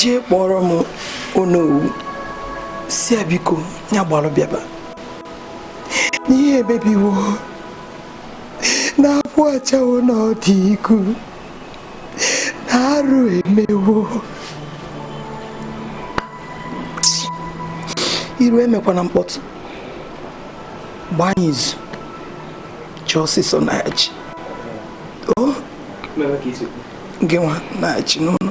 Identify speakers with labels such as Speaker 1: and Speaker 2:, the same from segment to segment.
Speaker 1: jee kpọọrọ m onowu sị ya biko ya gbalụ bịaba na ihe emebiwo na akwụ achawo n'ọdụ igu na arụ emewo iru emekwana mkpọtụ gbaa anyị izu chi ọsịsọ na-achị gị nwa na-achị n'ụlọ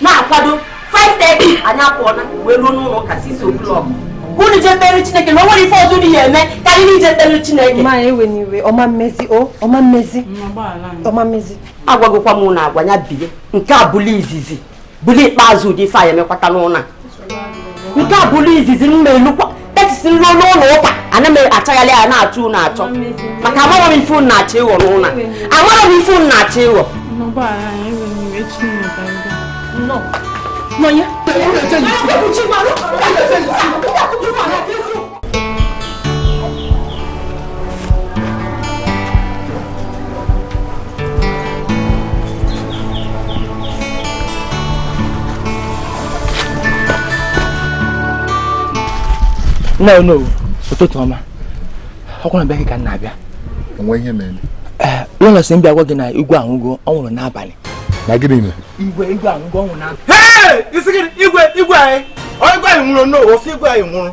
Speaker 2: na-akwado 5:30 anyị apụọna wee ruo n'ụlọ ụka 6 o'clock ka unu jee kpere chineke na o nwere ife ọzọ unu ya eme ka anyị niile jee kpere chineke ma ewena iwe ọ
Speaker 3: ma emezi o ọ ma emezi ọ ma emezi agwagokwa m
Speaker 2: unu agwa ya bie nke a bụlụ izizi bụlụ ikpeazụ ụdị ife a ya emekwata n'ụlọ a nke a bụlụ izizi m ma elukwa etisi m ruo n'ụlọ ụka ana m achagharị anya na-achọ unu achọ maka amarọ m ife unu na-achọ ịghọ n'ụlọ amarọ m ife unu na-achọ
Speaker 3: ịghọ No.
Speaker 4: no no ụtụtụ ọma ọ kwa na be gị ka m na-abịa o nwe ihe
Speaker 5: mere eh, lọlọ sị m
Speaker 4: bịa gwa gị na igwe anwụgo ọ nwụrụ n'abalị na gịnị mere igwe igwe anwụgo ọ nwụrụ n'abalị igwe igwe anyị igwe anyị nwụrụ n'ụwa ọ sị igwe anyị nwụrụ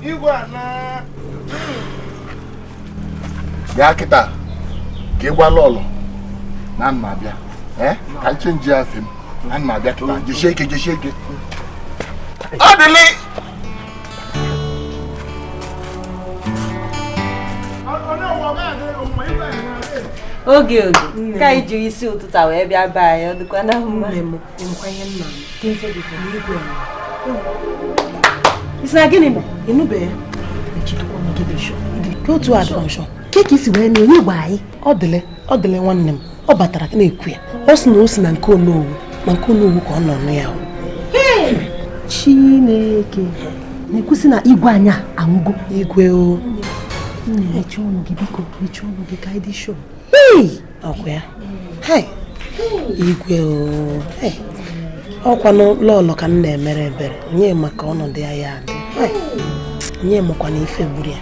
Speaker 5: igwe a na bịa kịta ka ị gwa lọlọ na ana m abịa ee ka m chenjia afe m ana m abịa kịta jesie ike jesie ike Odili
Speaker 3: oge oge ka anyị jiri isi ụtụtụ a wee bịa be anyị ọ dịkwa na mma ị sị na gịnị mere ị nụbe ya otu a dọrọ ke ka i si wee nụ onye gwa gị Odili Odili nwanne m ọ batara na-ekwu ya ọ sị na o si na nke onowu ma nke onowu ka ọ nọ nụ ya chineke na-ekwusị na igwe anyị anwụgo igwe o mechie ọnụ gị biko mechie ọnụ gị ka anyị dị sure ọkwa ya igwe ọkwa lọlọ ka m na-emere ebere onye ma ka ọnọdụ ya ya adị onye makwanụ ife gburu ya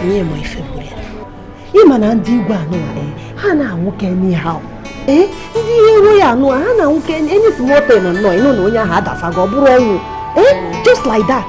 Speaker 3: onye ma ife gburu ya ịma na ndị
Speaker 6: igwe anụ eh, ha na-anwụke n'ihe ee ndị ihe iro ya anụ ha na-anwụke enyi si motel na nnọọ ịnụ na onye ahụ adasago ọ bụrụ ọnwụ ee eh, just like that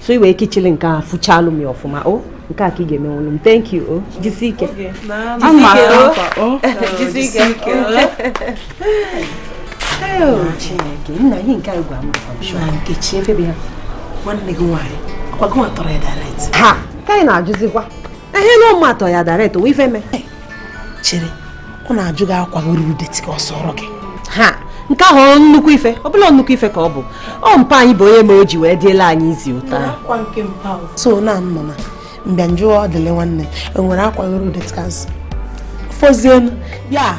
Speaker 6: so i wee kichili nke a fụchalụ m ya ọfụma o nke a ka ị ga-emenwulu m thank you o jisi ike chineke nna ihe nke a gwa m Nkechi
Speaker 3: ebe ya nwanne gị nwaanyị ọkwa gịnwa tọrọ ya direct ha ka anyị na-ajụzikwa
Speaker 6: ehe na ọ mụ tọ ya direct o nwe ife me
Speaker 3: chere ọ na-ajụ gị akwa gị ruru dirty ka ọ sụọrọ gị ha nke
Speaker 6: ahụ ọ nnukwu ife ọ bụla nnukwu ife ka ọ bụ ọ mpa anyị bụ onye ma o ji wee dịela anyị izi ụta akwa nke mpa o.
Speaker 3: so na m nọ na m bịa m jụọ ọ dịle nwanne m e nwere akwa gị ruru dirty ka m sụọ fozienu ya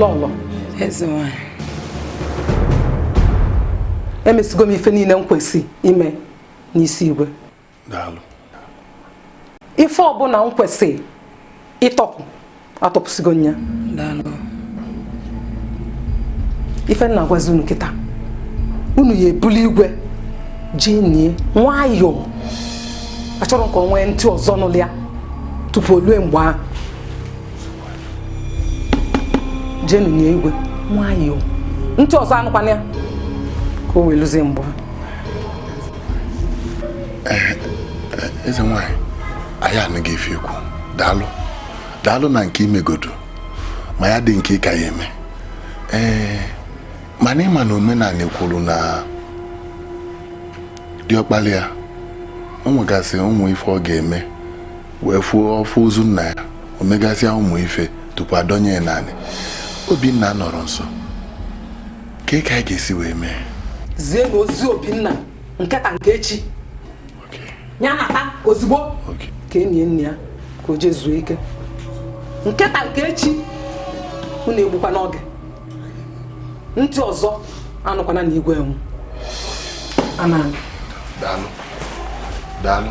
Speaker 1: lọlọ eze nwanyị emesigo m ife niile m kwesị ime n'isi igwe daalụ ife ọbụla m kwesị ịtọpụ atọpụsigo m ya daalụ ife m na-agwazi unu kịta unu ya ebuli igwe jee nie nwayọọ achọrọ m ka o nwee ntị ọzọ nụlụ ya tupu o lue mgbe ahụ jeenụ nie igwe nwayọọ ntị ọzọ anụkwana ya ka o wee luzie mgbe ahụ
Speaker 5: eh, eh, eze nwanyị anyị anụgo ife i kwu daalụ daalụ na nke i megodo ma ya dị nke ị ka ya eme ee eh, mana ịma na omenanị kwuru na diọkpala ya o nwegasị ụmụ ife ọ ga-eme wee fuo ọfụ ozu nna ya o megasịa ụmụ ife tupu a dọnye ya n'anị Obinna anọrọ nso kee ka anyị ga-esi wee mee zienụ
Speaker 1: ozi Obinna nke taa nke echi ya nata ozugbo ka e nie nna ya ka o je zuo ike nke taa nke echi unu egbukwana oge ntị ọzọ anụkwana na igwe anwụnaa anyị daalụ
Speaker 5: daalụ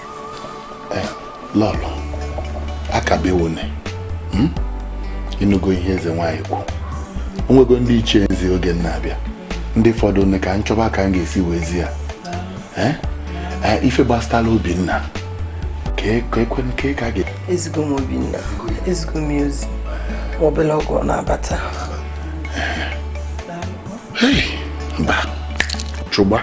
Speaker 5: eh, lọlọ akabewone hmm? ịnụgo ihe eze nwaanyị kwu onwego ndị ichie m zi oge m na-abịa ndị fọdụ nne ka m chọba ka m ga-esi wee zi ya eh? Eh, ife gbasatala obinna ka ekwe nke ka ga ezigbo m
Speaker 1: obinna ezigbo m ozi ma obele oge na-abata
Speaker 5: mba chụgba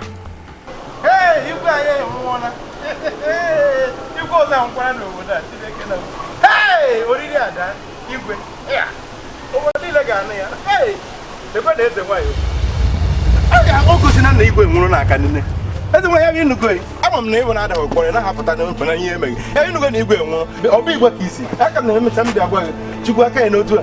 Speaker 4: na igwe nwụrụ ọ bụ igwe ka isi aka m na-emecha m bịa gwa gị chukwu aka ya n'otu a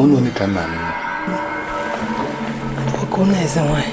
Speaker 5: Onu ni ka nna m.
Speaker 3: Ọkụ na eze nwanyị.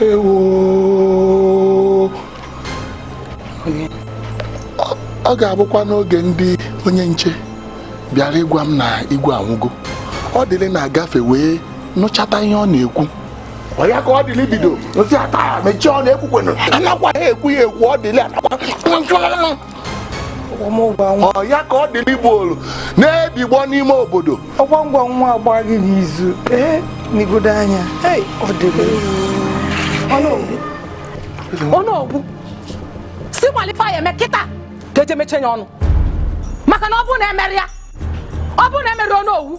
Speaker 5: ewo ọ ga-abụkwa n'oge ndị onye nche bịara ịgwa m na igwe anwụgo odili na-agafe wee nụchata ihe ọ na-ekwu ọ ya ka odili bido nsị ata mechie ọ na-ekwukwenụ anakwa ha ekwu ya ekwu odili anakwa ọ ya ka odili bulu na-ebigbọ n'ime obodo ọgwa ngwa nwa
Speaker 3: agba gị n'izu ee negodu anya ọ dịgo
Speaker 1: onowu si kwalụ ife ya eme kịta ka eje mechie ya ọnụ maka na ọ bụrụ na emerọ ya ọ bụrụ na emerọ ya onowu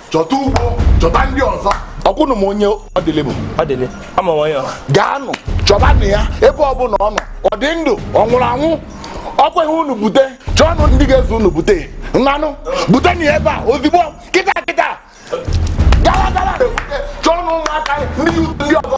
Speaker 5: chọta ugbo chọta ndị ọzọ ọ kwa unu ma onye odili bụ odili
Speaker 4: ama onye ọ gaanụ chọbanụ
Speaker 5: ya ebe ọbụla ọ nọ ọ dị ndụ ọ nwụrụ anwụ ọ kweghị unu bute chọọnụ ndị ga-eso unu bute nnanụ butenụ ya ebe a ozigbo kịta kịta gawa gawa chọọnụ ụmụaka ndị ndị ọzọ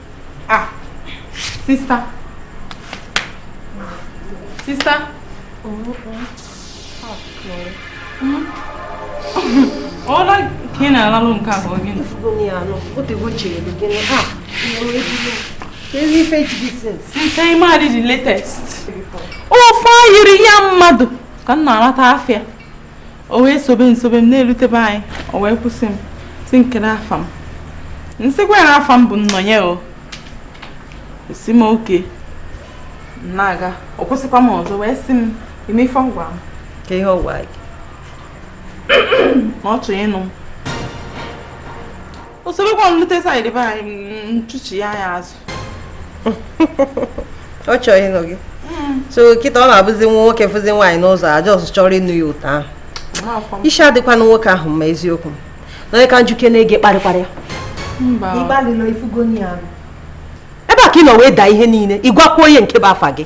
Speaker 7: ah sista sista ọ ụla ka ị na-alalụ nke a ka ọ gịnị sista ị madị the latest ofe ayiri ya mmadụ ka m na-alata afịa o wee sobe m sobe m na-erute be anyị o wee kwụsị m sị m kedụ afa m m sịkwa ya afa m bụ nnọnye ọ sị m okay na-aga ọ kwụsịkwa m ọzọ wee sị m ime ife ngwa m ka ihe ọ
Speaker 2: gwa
Speaker 7: gị na ọ chọrọ ịnụ m o sobekwa m lute side be anyị m chụchi ya azụ
Speaker 2: ọ chọọ ịnụ gị so kịta ọ na-abụzi nwa nwoke fụzi nwaanyị n'ụzọ ọ just chọrọ ịnụ ya etu ahụ isi adịkwanụ nwoke ahụ mma eziokwu nnọnye ka m jụkene gị ị
Speaker 6: kparịkwara ya ebe a ka ị nọ wee daa ihe niile ị gwakwa ya nke bụ afa gị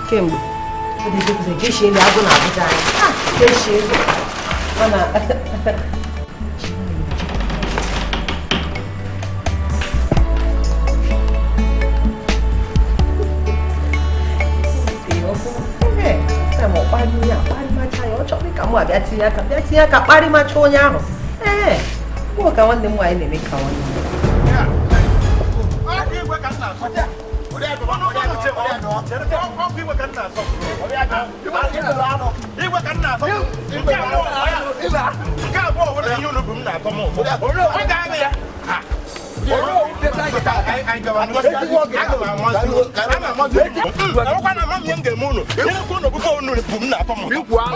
Speaker 6: kemgbe mụ abịa tinye aka bịa tinye aka kparịmacha onye ahụ ee ka nwanne m nwaanyị na-eme ka nwanne m Ikwu ahụ.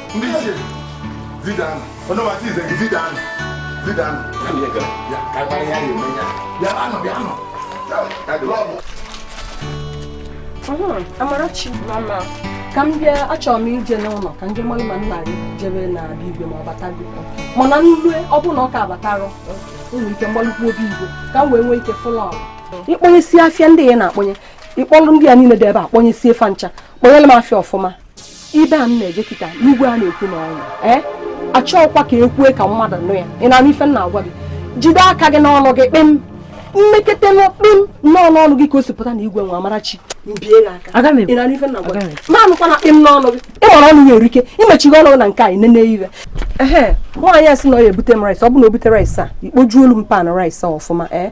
Speaker 6: ndị ichie vidanụ onye masị ize gị vidanụ vidanụ bịanụ bịanụ Amarachi mama ka m bịa achọrọ m ije n'ụlọ ka m je mara ma nna gị jebe na be igwe ma ọ batago mana m lue ọ bụrụ na ọ ka abatarọ nwere ike m gbalụkwu obi igwe ka m wee nwee ike fụlọ ị kpọnyesia afịa ndị a ị na-akpọnye ị kpọlụ ndị a niile dị ebe a kpọnyesie fa ncha kpọnyere m afịa ọfụma ibe a m na-eje kịta n'igwe a na-ekwu na ọnwụ ee achọọkwa m ka i kwue ka mmadụ nụ ya ị na-anụ ife m na-agwa gị jide aka gị n'ọnụ gị kpịm m
Speaker 3: mekete nụ kpịm nnọọ n'ọnụ gị ka o si pụta na igwe nwa amarachi m bie gị aka Aga m ekwu. ị na-anụ ife m na-agwa Aga m gị ekwu. m anụkwana kpịm n'ọnụ gị ị mara ọnụ ya erike imechighị ọnụ gị na nke anyị nene ife ehe nwaanyị a sị na ọ ya-ebute m rice ọ bụ na o bute rice a ị kpojuolu m pan rice a ọfụma ee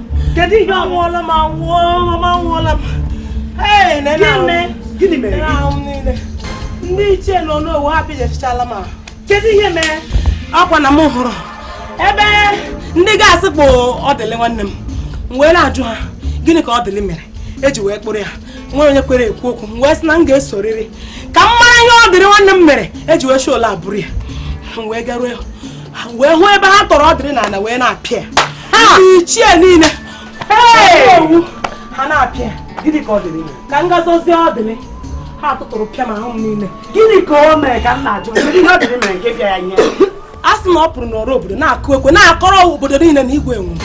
Speaker 3: kedu ihe anwụọla m anwụọla m anwụọla m gịnị mere ndị ichie nọ n'owu ha pịjachichala m kedu ihe mere ọ kwa na m hụrụ ebe ndị guards kpụ ọdịlị nwanne m m wee na-ajụ ha gịnị ka ọdịlị mere eji wee kpụrụ ya nwere onye kwere ekwu okwu m wee sị na m ga-esoriri ka m mara ihe ọdịlị nwanne m mere eji wee shoola abụrụ ya m wee garuo wee hụ ebe ha tọrọ ọdịlị n'ala wee na-apịa ichie niile owu ha na-apịa gịnị ka Odili ka m gazozi Odili ha tụtụrụ pịa m ahụ m niile gịnị ka o mere
Speaker 2: ka m na-ajụ a sị na ọ
Speaker 3: pụrụ n'ọrụ obodo na-akụ ekwe na-akọrọ obodo niile na igwe enwe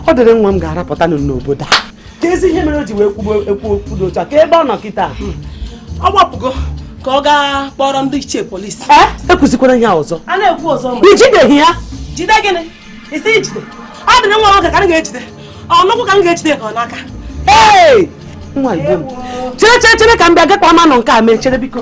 Speaker 2: Odili nwa m ga-arapụta n'obodo a keezi ihe mere o ji wee kwuo okwu dị otu a kee ebe ọ nọ kịta ọ
Speaker 3: gbapụgo ka ọ gaa kpọrọ ndị ichie polisi ekwuzikwara ihe
Speaker 2: ọzọ a na-ekwu ọzọ
Speaker 3: ijideghị ya
Speaker 2: jide gịnị
Speaker 3: isi ijide Odili nwa nwoke ka m ga-ejide ọnụkwụ ka m ga-ejide ka ọ n'aka
Speaker 2: ee nwa igbo m chere chere chere ka m bịa gakwa ma nọ nke a mee chere biko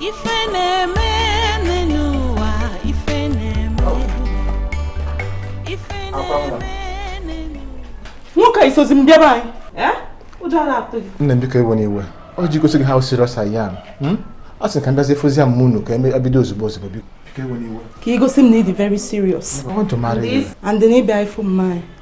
Speaker 8: ife na-eme n'ụwa ife na-eme ife
Speaker 7: na-eme nwoke a i sozi m bịa be anyị eh? ụjọ na-atụ gị nne m biko ewena
Speaker 9: iwe ọ ji gosi gị how serious I am hmm? ọ sị ka m bịazie fụzie mama unu ka e bido ozugbo ozugbo biko ka ị gosi m na ị dị
Speaker 7: very serious and na ị bịa ịfụ mama anyị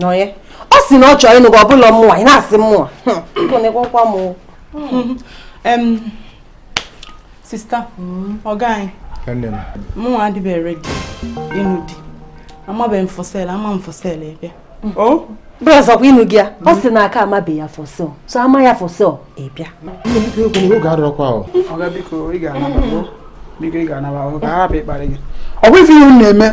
Speaker 7: nụ onye
Speaker 6: ọ sị na ọ chọrọ ịnụ gị ọ bụla mụnwa ị na-asị mụnwa gụnịkwakwa hmm.
Speaker 7: m sister ọga anyị mụnwa adịbeghị ready ịnụ di amabeghị m for sale a maa m for sale ị bịa bros ọkwa ị
Speaker 6: nụgo ya ọ sị na a ka amabeghị ya for sale so a maa ya for sale ị
Speaker 9: bịa
Speaker 10: ọ bụ ife ihe unu
Speaker 3: na-eme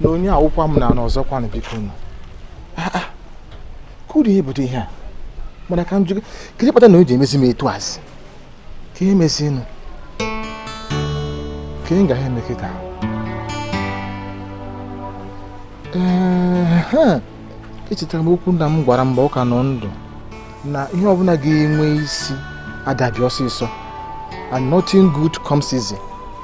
Speaker 9: na onye awụkwa m na n'ọzọkwa na biko nụ ah, ah. kee ụdị ihe bụdụ ihe a mana ka m jụ kedu ihe kpatara o ji emezi m etu a zị kee ihe mezinụ kee ihe ị ga-eme kịta echetara m okwu nna m gwara m mgbe ọ ka nọ ndụ na ihe ọbụla ga-enwe isi ada abịa ọsịsọ and nothing good comes easy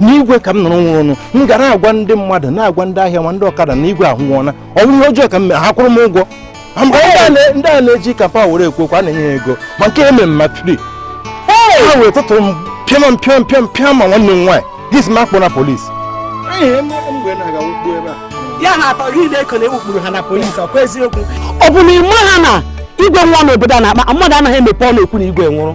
Speaker 3: na igwe ka m nụrụ
Speaker 9: nwụrụnụ m ga na-agwa ndị mmadụ na-agwa ndị ahịa ma ndị ọkada na igwe anwụọna ọ bụrụ ihe ọjọọ ka m mere ha kwụrụ m ụgwọ ndị a na-eji kapa were ekwu okwu a na-enye ya ego ma nke eme m free ha wee tụtụrụ m pịama m pịam pịam pịam ma nwanne m nwaanyị ị sị m akpọna
Speaker 3: polisi ya ha atọ gị na-eko na ekpukpuru ha na polisi ọkwa eziokwu ọ bụ na ị maha na igwe nwụọ n'obodo a na-akpa mmadụ anaghị emepe ọnụ ekwu na igwe nwụrụ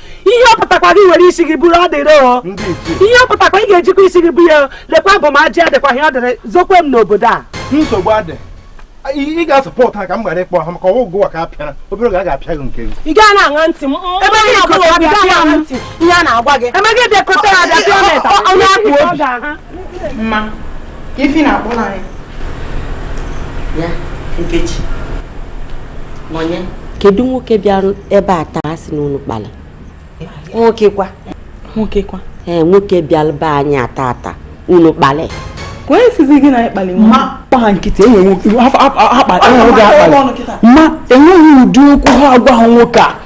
Speaker 3: ihe ọ pụtakwara i were isi gị buru ọ dịrị o ihe ọ pụtakwa ị ga-ejikwa isi gị bu ya lekwa bụ m ajị adịkwa ihe ọ dịrị zokwe m n'obodo a nsogbu
Speaker 4: adị ị ga-asọpọtụ ha ka m ghara ịkpọ ha maka ọgwụ ụwa ka a pịara obere oge a ga-apịa gị nke gị ị gaa na-aṅa ntị
Speaker 6: m ebe gị na-agwa gị ihe a na-agwa gị ebe gị bịakọta ya bịa
Speaker 7: pịa onye akpụ obi mma ka ife ị
Speaker 2: na-akpọlụ anyị ya nkechi nọnye kedu nwoke bịara ebe a taa sị na unu kpali nwoke
Speaker 6: kwa nwoke kwa
Speaker 2: ee nwoke bịara be anyị taa taa unu kpali o wee
Speaker 7: sizi gị na anyị kpali ma kpa ha nkịtị
Speaker 10: enweghị ụdị okwu ha agwaghị nwoke a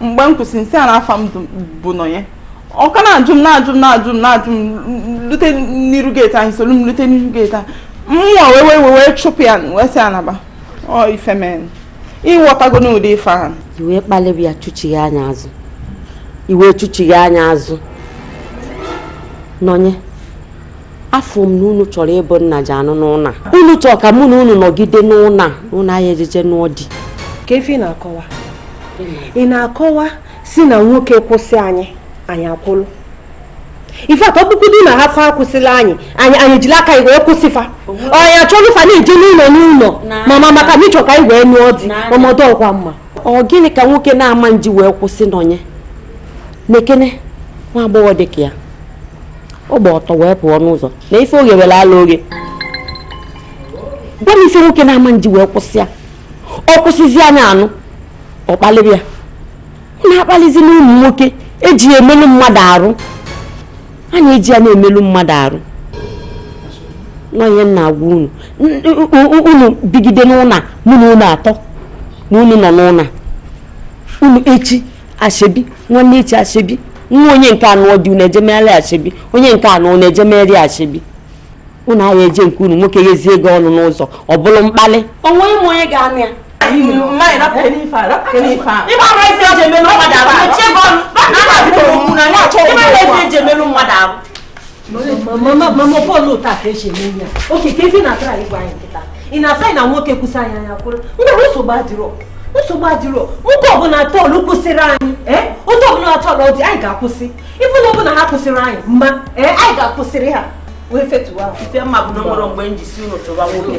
Speaker 7: mgbe m kwụsịrị m sị ya na afa m bụ nọnye ọ ka na-ajụ m na-ajụ m na-ajụ m na-ajụ m lute n'iru geeti anyị soro m lute n'iru geeti anyị mụwa wee chụpụ ya wee sị ya naba ọ ife m mere ịghọtago n'ụdị ife ahụ i wee kpalịba
Speaker 2: ya chụchigha anya azụ i wee chụchigha anya azụ nọnye afụ m na unu chọrọ ịbụ nna ga-anụ n'ụnọ a unu chọrọ ka mụ na unu nọgide n'ụnọ a n'ụnọ a anyị ejeje nụọ di kee ife
Speaker 6: ị na-akọwa ị na-akọwa si na nwoke kwụsị anyị anyị akwụlụ ife atọ bụkwudu na ha fa akwụsịla anyị anyị anyị jiri aka anyị wee kwụsị fa anyị achọrọ fa na-eje n'ụlọ n'ụlọ mama maka na ịchọ ka anyị wee nụọ di ọmọdụ ọkwa mma ọ gịnị ka nwoke
Speaker 2: na-ama eji wee kwụsị nọnye na-ekene nwa agbọghọ dị ka ya ọ gba ọtọ wee pụọ n'ụzọ na ife oge were ala oge gwa m ife nwoke na-ama eji wee kwụsị ya ọ kwụsịzi anya anụ ọ kpalịba ya ọ na-akpalizi n'ụmụ nwoke eji ya emelu mmadụ arụ a na-eji ya na-emelu mmadụ arụ nụ ihe m na-agwa unu unu bigide n'ụnọ a mụ na unu atọ na unu nọ n'ụnọ a unu echi asoebi nwanne echi asoebi nwa onye nke a nụọ di unu eje megharị asoebi onye nke a nụọ unu eje megharị asoebi unu aya-eje nke unu nwoke ghezie gị ọnụ n'ụzọ ọ bụrụ mkpali onweghị onye ga-anụ
Speaker 6: ya ịgba mama ọ bụrọ otu a ka esi eme ihe a okay keezi ife ị na-atry ịgwa anyị kịta ị na-asị anyị na nwoke kwụsị anyị anyị akwụrụ ngwa nsogbu adịrọ nsogbu adịrọ nwoke ọbụla tọọlụ kwụsịrị anyị ee otu ọbụla tọọlụ dị anyị ga-akwụsị even ọ bụ na ha kwụsịrị anyị mma ee anyị ga-akwụsịrị ha wee fetuwa ife m ma bụ na o nwerọ
Speaker 2: mgbe m ji si unu chụwa nwoke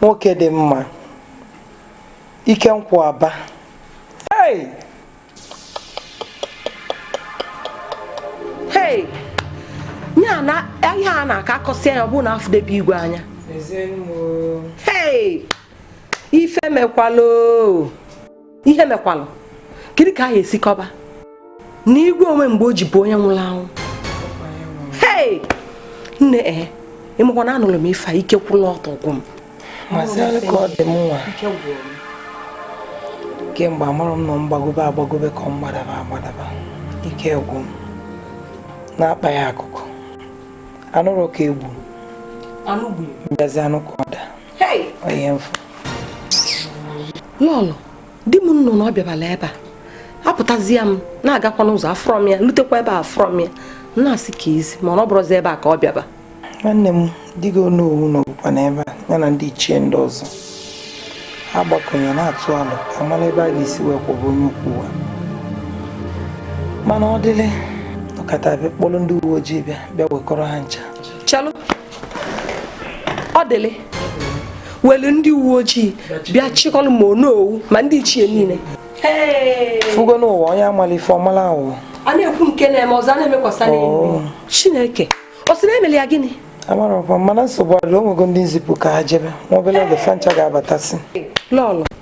Speaker 3: nwoke dị mma ike nkwụ aba hey! hey! ya na ihe a na-aka akọsị anya ọ bụ na afọ debe igwe anya hey! ife emekwala o ihe mekwalụ kedu ka a ya esi kọba na igwe onwe mgbe o ji bụ onye nwụrụ anwụ hei nne ee eh, ịmakwa na anụrụ m ife a ike kwụrụ ọtọ gwụ m masịrị ka ọ dị m nwa kemgbe amarọ m ma m gbagobe agbagobe ka ọ m gbadaba agbadaba ike gwụ m na-akpa ya akụkọ anụrụ ka egwu m bịazi anụ ka ọ daa lọlọ di m m nụ na ọ bịabala ebe a apụtazie m na-agakwa n'ụzọ afụrọ m ya lutekwa ebe a afụrọ m ya na-asị ka isi mana ọ bụrọzi ebe a ka ọ bịaba nwanne m di gị onowu nọbukwa na ebe a ya na ndị ichie ndị ọzọ ha gbakọnye na-atụ alo ka amara ebe a ga-esi wee kwụbụ onye ukwu ụwa mana odili kata bịa kpọrọ ndị uwe ojii bịa bịa wekọrọ ha ncha chelụ odili welu ndị uwe ojii bịa chịkọlụ ma onowu ma ndị ichie niile fugo n'ụwa onye amala ife ọmala awụ a na-ekwu nke na-eme ọzọ a na-emekwasa oh. chineke ọ sị na emelụ ya gịnị amarọkwa mana nsogbu adịrọ onwego ndị m zipụ ka ha jebe nwa obele oge fancha ga-abatasị lọlọ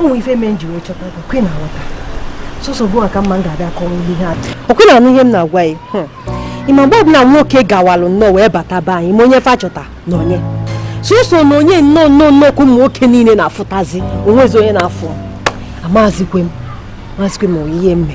Speaker 6: ụmụ ife mee m ji wee chọta gị kwe na nghọta sọsọ gịwa ka m ma m ga-abịa kọwa ihe a o kwe na-anụ ihe m na-agwa ya hmm. ịma mgbe ọbụla nwoke gawalụ nnọọ wee bata be anyị ma onye fa chọta nonye sọsọ nonye nnọọ nnọọ nnọọ ka ụmụ nwoke niile na-afụtazi onwezi onye na-afụ m amazikwe m mazikwe m ihe m me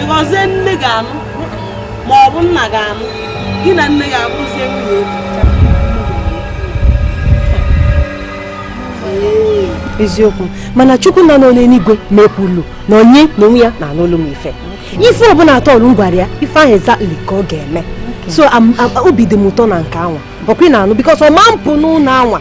Speaker 2: ịghọzie nne gị anụ ma ọ bụ nna gị anụ
Speaker 3: gị na nne
Speaker 6: gị abụzie nwunye eziokwu mana chukwu nọ n'eluigwe mekwulu nonye na onwe ya na-anụ olu m ife ife ọbụla atọ ọrụ m gwara ya ife ahụ exactly ka ọ ga-eme so obi dị m ụtọ na nke anwa ọkwa ị na-anụ because ọ ma apụ n'ụlọ anwa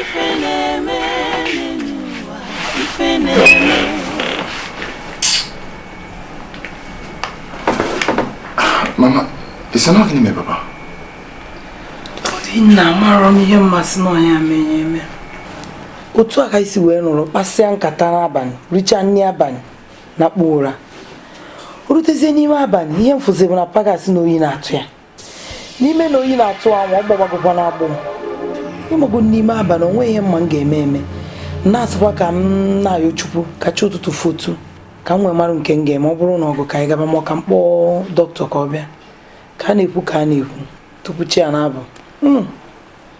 Speaker 5: ife na-eme n'ụwa ife na-eme mama ị sị na gịnị mere papa
Speaker 3: nna amarọ m ihe m ga-asị na ọ nya menye eme otu a ka anyị si wee nọrọ kpasịa nkata n'abalị richa nri abalị nakpu ụra rutezie n'ime abalị ihe m fụzi bụ na pa gị sị na oyi na-atụ ya n'ime na oyi na-atụ anwa ọ gbawagokwa na agbọ ịmago n'ime abalị onwe ihe m ma m ga-eme eme na-asịkwa ka m na-ayọ chukwu ka chi ụtụtụ fotu ka m wee marụ nke m ga-eme ọ bụrụ ụnọ ọgwụ ka anyị gaba ma ka m kpọọ dọkịta ka ọ bịa ka a na-ekwu ka a na-ekwu tupu chi ya na-abọ hmm.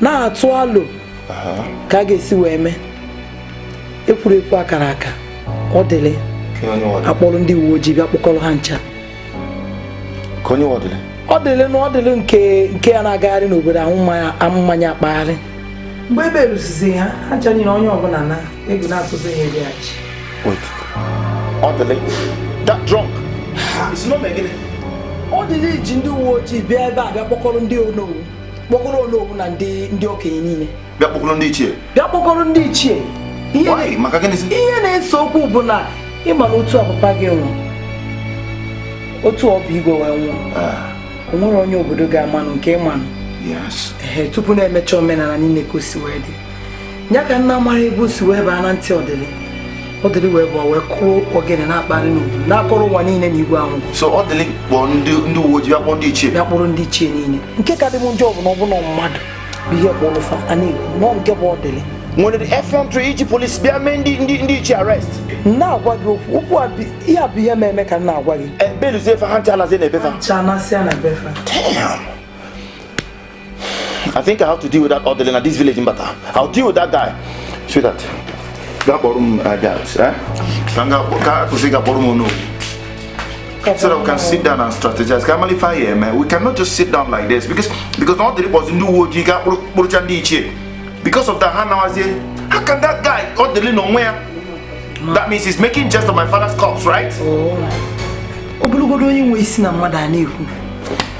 Speaker 3: na-atụ alo ka a ga-esi wee mee ekwuru ekwu akara aka ọdịlị akpọrọ ndị uwe ojii bịa kpọkọrọ ha ncha ọdịlị na ọdịlị nke nke ya na-agagharị n'obodo aṅụ mmanya akpagharị mgbe ebe eruzizi ha ha ncha niile onye ọbụla na egwu na-atụzi ya ebe ya chi
Speaker 5: Wait. Ọdịlị, that drunk. It's not making it.
Speaker 3: Ọdịlị ji ndị uwe ojii bịa ebe a bịa kpọkọrọ ndị onowu kpọkọrọ onowu na ndị ndị okenye niile. Bịa kpọkọrọ ndị ichie.
Speaker 5: Bịa kpọkọrọ ndị ichie. Ihe maka gịnịzi? Ihe na-ese
Speaker 3: okwu bụ na ị ma na otu a papa gị nwụrụ otu ọ bụ igwe wee nwụọ. Ah. O nwere onye obodo ga-amanụ nke ịmanụ. Yes. Ehe tupu na e mechaa omenala niile ka o si wee dị. ya ka m na-amarọ ebe o si wee baa na ntị ọdịlị ọdịlị wee bụ wee kụọ ogene na-akpagharị n'obodo na-akọrọ ụwa niile na igwe anwụọ so ọdịlị kpọọ
Speaker 5: ndị ndị uwe ojii akpọ ndị ichie bịa kpọrọ ndị ichie niile nke ka dị m
Speaker 3: njọ bụ na ọ bụ na mmadụ bụ ihe kpọrọ fa a na-ekwu nọ nke bụ ọdịlị nwere
Speaker 5: effrontery iji polisi bịa mee ndị ndị ndị ichie arrest na-agwa gị
Speaker 3: okwu okwu a bụ- ihe a bụ ihe mere eme ka m na-agwa gị beluzie fa ha ncha
Speaker 5: anazie na be fa ncha anasịa na be
Speaker 3: fa damn
Speaker 5: I think I have to deal with that Ọdịlị na this village mbata. I'll deal with that guy. Sweetheart, gaa kpọrọ m uh, guards. Eh? Ka m kwụsị gaa kpọrọ m onowu. So that we can sit down and strategize. Ka a malụ ife a ya-eme. We cannot just sit down like this because because na Ọdịlị kpọzi ndị uwe ojii gaa kpụrụcha ndị ichie. Because of that ha nawazie. How can that guy Ọdịlị n'onwe ya? That means he's making jest of my father's corpse, right? Oh. Ọ bụlụgodu onye nwe isi na mmadụ a na-ekwu.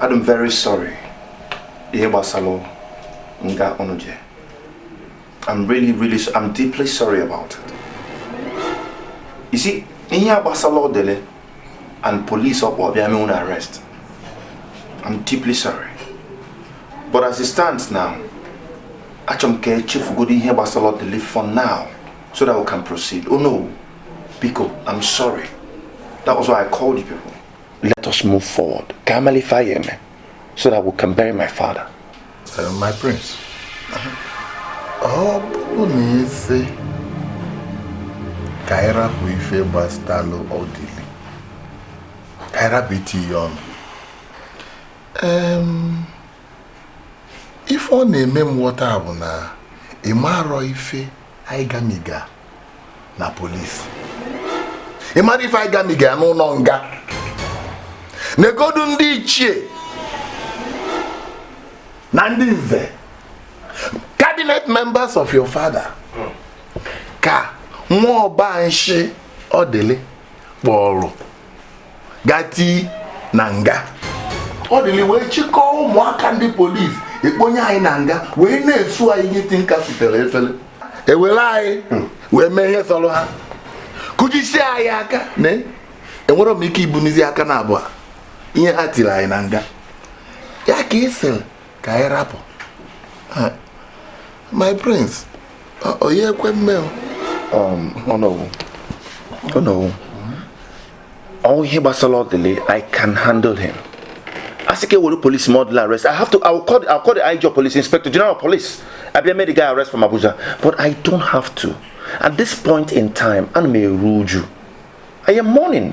Speaker 4: adị m very sorry ihe gbasara nga unu je I'm really really I'm deeply sorry about it you see ihe a gbasara ọdịlị and police ọ kpọ bịa mee unu arrest I'm deeply sorry but as it stands now achọrọ m ka e chefugodu ihe gbasara ọdịlị for now so that we can proceed onowu biko I'm sorry that was why I called you people let us move forward ka a malụ ife a ya-eme so that we can bury my father uh,
Speaker 5: my prince ọ bụrụ na ị sị ka anyị rapụ ife gbasatalụ ọdịlị ka anyị rapụ itinye ọnụ ife ọ na-eme m ghọta bụ na ị marọ ife anyị gamiga na polisi ị marọ ife anyị gamiga n'ụnọ nga negodu ndị ichie na ndị nze cabinet members of your father ka nwa ọba nshi ọdịlị kpọrọ gati na nga ọdịlị wee chịkọọ ụmụaka ndị polisi ekponye anyị na nga wee na-esu anyị ihe tinka sitere efere ewere anyị wee mee ihe sọrọ ha kụjisie anyị aka na enwerọ m ike ibunizi aka na abụọ ihe ha tiri anyị na nga ya ka ị sịrị ka anyị rapụ my prince ọ ya-ekwe
Speaker 4: mme onowu onowu all ihe gbasara ọdịlị i can handle him asị ka ewere police mee ọdịlị arrest i have to i will call the, I will call the IG police inspector general police abịa mee the guy arrest from Abuja but i don't have to at this point in time ana m eru uju i am mourning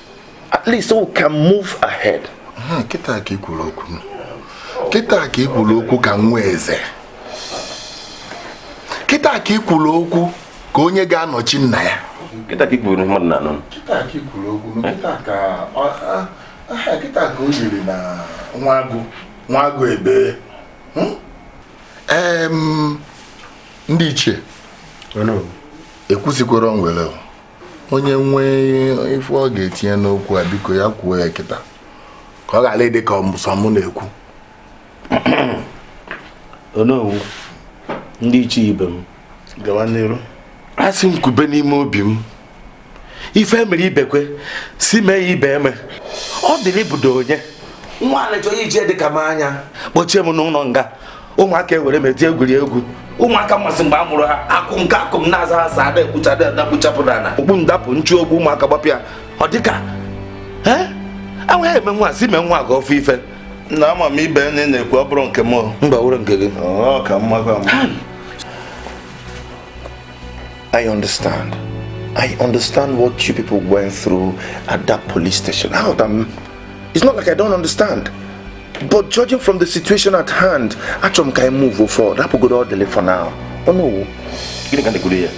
Speaker 4: at least we can move ahead kịta
Speaker 5: ka ikwuru okwu kịta ka ikwuru okwu ka nwa eze kịta ka ikwuru okwu ka onye ga-anọchi nna ya kịta ka ikwuru ihe
Speaker 9: mmadụ na-anụ kịta ka ikwuru
Speaker 5: okwu kịta ka kịta ka o yiri na nwa agụ nwa agụ ebe hmm? ndị ichie ekwusikwara o nwere onye nwee ife ọ ga-etinye n'okwu a biko ya kwuo ya kịta ka ọ ghara ịdị ka ọ mụ sọ mụ na-ekwu
Speaker 9: onowu ndị ichie ibe m gawa n'iru asị m
Speaker 4: kwube n'ime obi m ife e mere ibekwe si mee ya ibe eme ọdịlị bụdo onye nwa a lechaa ichie dị ka m anya kpọchie m n'ụlọ nga ụmụaka ewere m eji egwuri egwu ụmụaka m masị mgbe a mụrụ ha akụ nke akụ m na-aza ha sir ada ekpucha ada adakpuchapụ na ala okpu m dapụ m chụ okpu ụmụaka gbapịa ọ dịka enweghị eme nwa si mee nwa gị ofu ife na ama m
Speaker 9: ibe nne na-ekwu ọ bụrụ nke m mba wụrụ nke gị
Speaker 4: ka mma I understand. I understand what you people went through at that police station. Out, I'm, it's not like I don't understand. But judging from the situation at hand, achọ m ka anyị move forward. Rapụgodo Ọdịlị for now. Onowu. Gịnị ka
Speaker 9: na-ekwuru ya?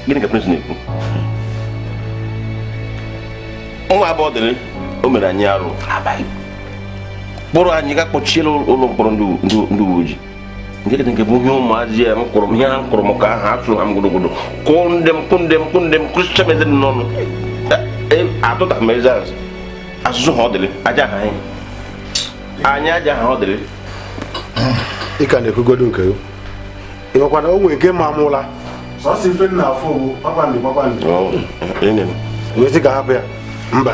Speaker 9: Gịnị ka Prince na-ekwu? Nwa a bụ Ọdịlị o mere anyị arụ. Kpụrụ anyị gaa kpọchie n'ụlọ mkpọrọ ndị uwe ojii. nke dị nke bụ ihe ụmụazị a mkpụrụ ihe ha mkpụrụ m ka aha atụ ha m gụrụgụrụ kụọ ndị m kụ ndị m kụ ndị m kụsịcha m eze m n'ọnụ atụta m eze azụ asụsụ ha ọdịlị aja ha anyị anyị aja ha ọdịlị ị ka na-ekwugodo nke gị ị makwa na o nwere nke ma mụla sọsọ ife m
Speaker 5: na-afụ ugbu a kpakpando kpakpando
Speaker 9: wee sị ka a hapụ ya mba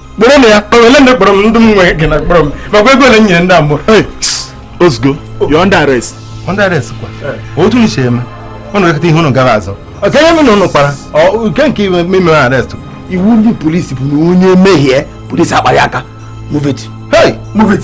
Speaker 9: kpọrọ m ya kpọrọ ele ndị kpọrọ m ndị m nwe gị na kpọrọ m makwa ego ole m nyere ndị a mụrụ ozugbo you're under arrest under arrest kwa otu m si eme ụnụ ekete ihe ụnụ gara azụ ọ ka ihe m na ụnụ kpara nke nke iwe meme arrest iwu ndị polisi bụ na onye mehie polisi akpara aka move it hey move it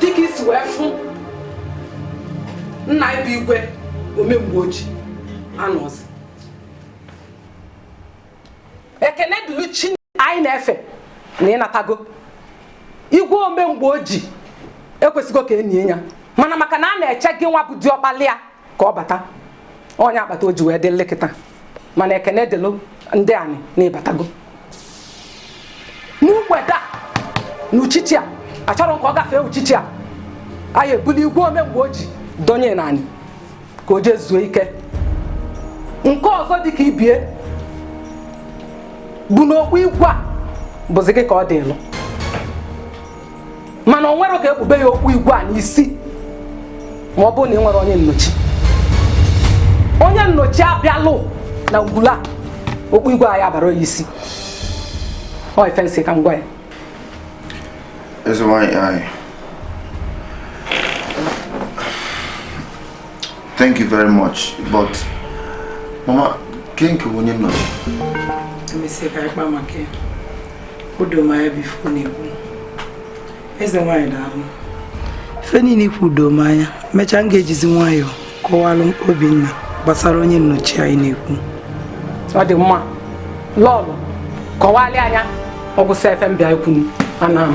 Speaker 1: dịka i si wee fụ nna ị bụ igwe omemgbe oji anọzi ekene dịlụ chi anyị na-efe na ị natago igwe omemgbe oji ekwesịgo ka e nie ya mana maka na a na-eche gị nwa bụ diọkpala ya ka ọ bata ọ nya kpata o ji wee dị lue kịta mana ekene dịlụ ndị anyị na ị batago n'ugbede a na uchichi a a chọrọ ka ọ gafee uchichi a anyị ebulu igwe ome mgbe o ji donye n'anị ka o jee zuo ike nke ọzọ dị ka ibe ya bụ na okpu igwe a bụzi gị ka ọ dịlụ mana o nwere ka e kpube ya okpu igwe a n'isi ma ọ bụrụ na ị nwere onye nnọchi onye nnọchi a bịalụ na ngwulu okpu igwe anyị abara ya isi ọ ife m sị ka m gwa
Speaker 11: ya Eze nwanyị anyị Thank you very much, but mama, kee nke wụ onye nọ.
Speaker 3: Emesịa ka anyị kpaa maka ya. O doo m anya bụ ife ọ na-ekwu. Eze nwaanyị daalụ. Ife niile i kwu doo m anya, mechaa m ga-ejizi nwayọọ kọwalụ Obinna gbasara onye nnọchi anyị na-ekwu. Ọ dị
Speaker 1: mma, lọọlọ, kọwalị ya ọ gwụsị ife m bịa ikwu m, ana m.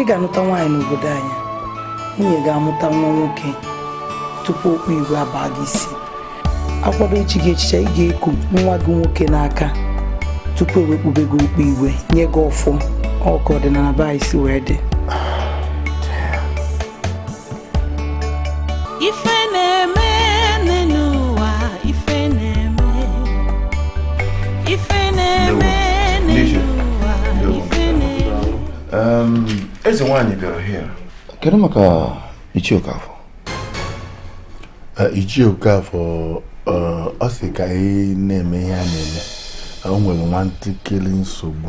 Speaker 3: ị ga-anụta nwaanyị n'obodo anyị nwunye ga-amụta nwa nwoke tupu okpu igwe abaa gị isi a kwado ichi gị echichi ị ga-eku nwa gị nwoke n'aka tupu e wee kpube gị okpu igwe nye gị ọfọ ọ ka ọdịnala be anyị si wee dị
Speaker 8: ife na-eme n'ụwa ife na-eme ife na-eme n'ụwa ife na-eme eze nwaanyị
Speaker 11: bịara here kedu maka ichie okafọ eh,
Speaker 5: ichie okafọ eh, ọ sị ka anyị na-eme ihe a na-eme o nwere nwantakịrị nsogbu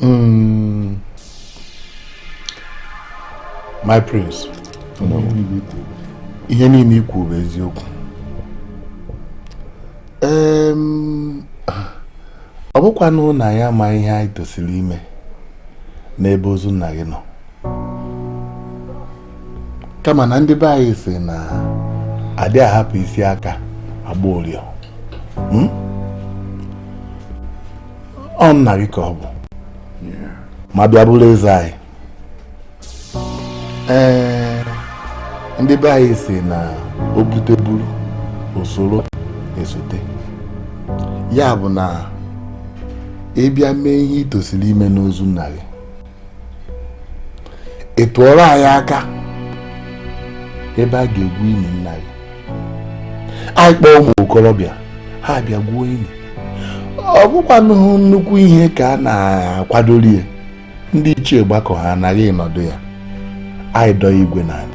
Speaker 5: Mm. My prince. Ihe niile i kwu bụ eziokwu. Ọ bụkwanụ na anyị ama ihe anyị tosiri ime n'ebe ozu nna gị nọ. kama na ndị be anyị sị na a dị ahapụ isi aka agba ụriọ hmm? ọ nna gị ka ọ bụ ma bịa bụrụ eze anyị ee ndị be anyị sị na o bute buru usoro esote ya bụ na ị bịa mee ihe i tosiri ime n'ozu nna gị ị tụọrọ anyị aka ebe a ga-egwu ili nna gị anyị kpọọ ụmụ okorobịa ha abịa gwuo ili ọ bụkwanụ nnukwu ihe ka a na-akwadoro ya ndị ichie gbakọ ha na gị ị nọdụ ya anyị dọọ igwe n'ala